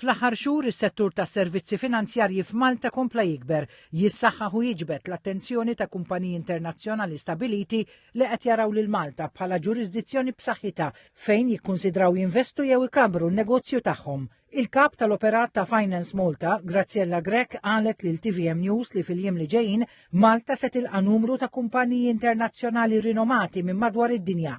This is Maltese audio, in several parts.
Fl-aħħar xhur is-settur tas-servizzi finanzjarji f'Malta kompla jikber, jissaħħaħ u jiġbed l-attenzjoni ta' kumpaniji internazzjonali stabiliti li qed jaraw lil Malta bħala ġurisdizzjoni b'saħħitha fejn jikkunsidraw jinvestu jew ikabbru n-negozju tagħhom. Il-Kap tal-Operat ta' Finance Malta, Graziella Grech qalet lil TVM News li fil-jiem li ġejjin Malta se tilqa' numru ta' kumpaniji internazzjonali rinomati minn madwar id-dinja.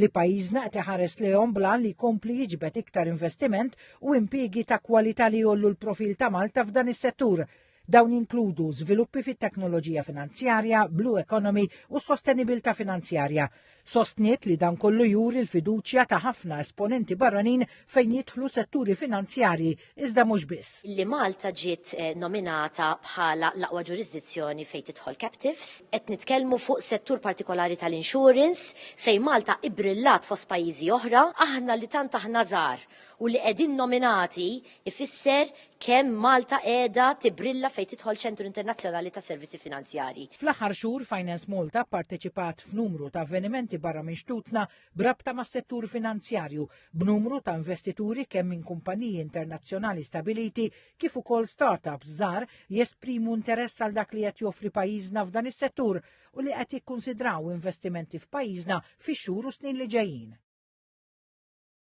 li pajjiżna qed iħares lejhom bl-għan li jkompli jiġbed iktar investiment u impjiegi ta' kwalità li jgħollu l-profil ta' Malta f'dan is-settur. Dawn jinkludu żviluppi fit-teknoloġija finanzjarja, blue economy u sostenibilità finanzjarja. Sostniet li dan kollu juri l-fiduċja ta' ħafna esponenti barranin fejn jidħlu setturi finanzjarji iżda mhux biss. li Malta ġiet eh, nominata bħala l-aqwa ġurisdizzjoni fejn tidħol captives. Qed nitkellmu fuq settur partikolari tal-insurance fejn Malta ibrillat fost pajjiżi oħra, aħna li tant aħna żgħar u li qegħdin nominati ifisser kemm Malta qiegħda tibrilla fejn tidħol ċentru internazzjonali ta' servizzi finanzjarji. Fl-aħħar xhur, Finance Malta pparteċipat f'numru ta' avvenimenti barra minn xtutna b'rabta mas-settur finanzjarju, b'numru ta' investituri kemm minn kumpaniji internazzjonali stabiliti kif ukoll start-ups żgħar jesprimu interess għal dak li qed joffri pajjiżna f'dan is-settur u li qed jikkunsidraw investimenti f'pajjiżna fix-xhur u snin li ġejjin.